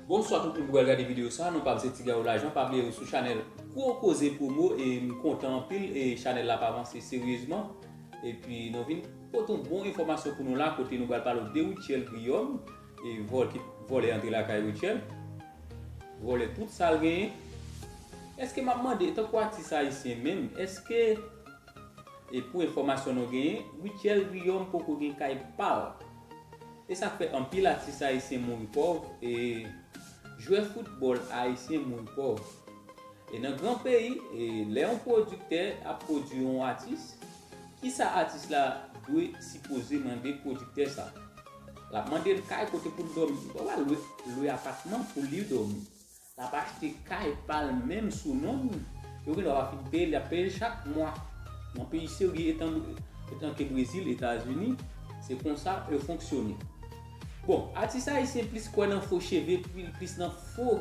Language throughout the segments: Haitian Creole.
Bonswa tout moun ki pral gade video sa non pam se Tigaou Lajan pa bliye ou sou chanèl gwo koze promo e m kontan anpil e chanèl la ap avanse seryezman epi nou vin pote yon bon enfòmasyon pou nou la kote nou pral pale w de Rutshelle Guillaume e vòl ki vòlè antre lakay Rutshelle vòlè tout sal genyen eske map mande tankou atis ayisyen menm eske E pou enfòmasyon nou genyen, Rutshelle Guillaume poko gen kay pa l. E sa k fè anpil atis ayisyen mouri pòv e jwè foutbòl ayisyen mouri pòv. E nan gran peyi, lè yon pwodiktè ap pwodui yon atis, ki sa atis la dwe sipoze mande pwodiktè sa? L ap mande l kay kote pou l dòmi. Li pa pral lwe apatman pou li dòmi. Lap achte kay pal menm sou non l, yo gen dwa pa fin peyel yap peyel chak mwa nan peyi serye etanke brezil etazini se konsa yo fonksyone bon atis ayisyen plis kwè nan fo cheve pil plis nan fo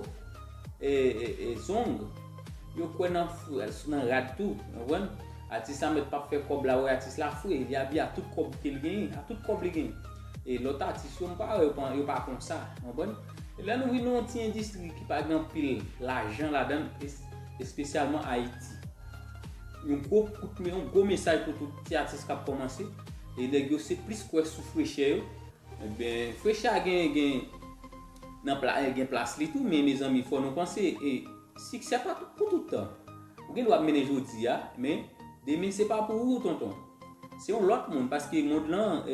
zong yo kwè nan nan rad tou ou konprann atis la mèt pap fè kòb la wè atis la fre li abiye a tout kòb kel genyen a tout kòb li genyen e lòt atis yo m pa wè yo pa konsa ou konprann. Lè nou vin yon ti endistri ki pa gen anpil lajan ladan l, espesyalman Ayiti. Yon gwo kout men, yon gwo mesaj pou tout ti atis k ap kòmanse, e nèg yo se plis kwè sou frechè yo. Enben, frechè a gen, gen nan pla, gen plas li tou, men mezanmi fò nou panse e. Siksè pa pou tout tan. Ou gen dwa ap mennen jodi a, men demen se pa pou ou tonton. Se yon lòt moun paske mond lan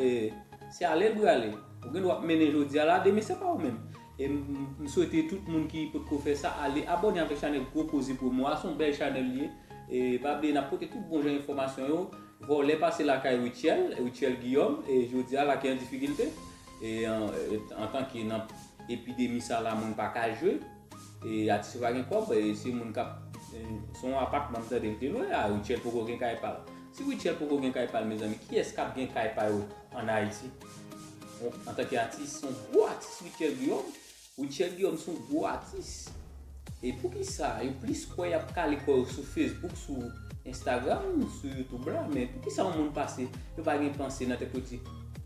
se ale l prale. Ou gen dwa ap mennen jodi a la, demen se pa ou menm. E m swete tout moun ki potko fè sa ale abòne avèk chanèl Gwo Koze pou mwa a, se yon bèl chanèl li ye. E pa bliye n ap pote tout bon jan enfòmasyon yo. Vòlè pase lakay Rutshelle, Rutshelle Guillaume, e jodi a lake an difikilte. E antanke nan epidemi sa la moun pa ka jwe. E atis yo pa gen kòb, e se moun kap, se yon apatman m tande yo te lwe la, Rutshelle poko gen kay pal. Si Rutshelle poko gen kay pal mezanmi, kiyès kap gen kay pa yo an Ayiti? Antanke atis, se yon gwo atis Rutshelle Guillaume. Rutshelle Guillaume se yon gwo atis. E poukisa yo plis kwè y ap kale kò yo sou Facebook, sou Instagram, sou YouTube la, men poukisa yon moun pase, yo pa gen panse nan tèt yo di,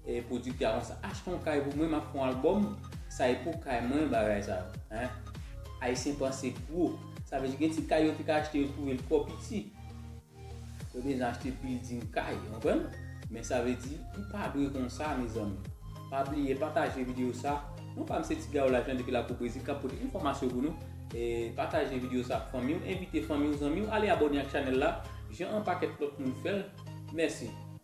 e pwodiktè a konsa, achte yon kay pou mwen, m ap fè yon albòm. Sa e pou kay mwen bagay sa yo hein. Ayisyen panse gwo. Sa vle di gen ti kay yo te ka achte yo twouve l twò piti. Yo bezwen achte building kay ou konprann. Men sa vle di li pa dwe konsa mezanmi. Pa bliye pataje video sa. Non pa m se Tigayo Lajan depi lakou Brezil kap pote enfòmasyon pou nou. Pataje video sa ak fanmi w, envite fanmi w, zanmi w ale abòne ak chanèl la jan anpakèt lòt moun fè l. Mèsi.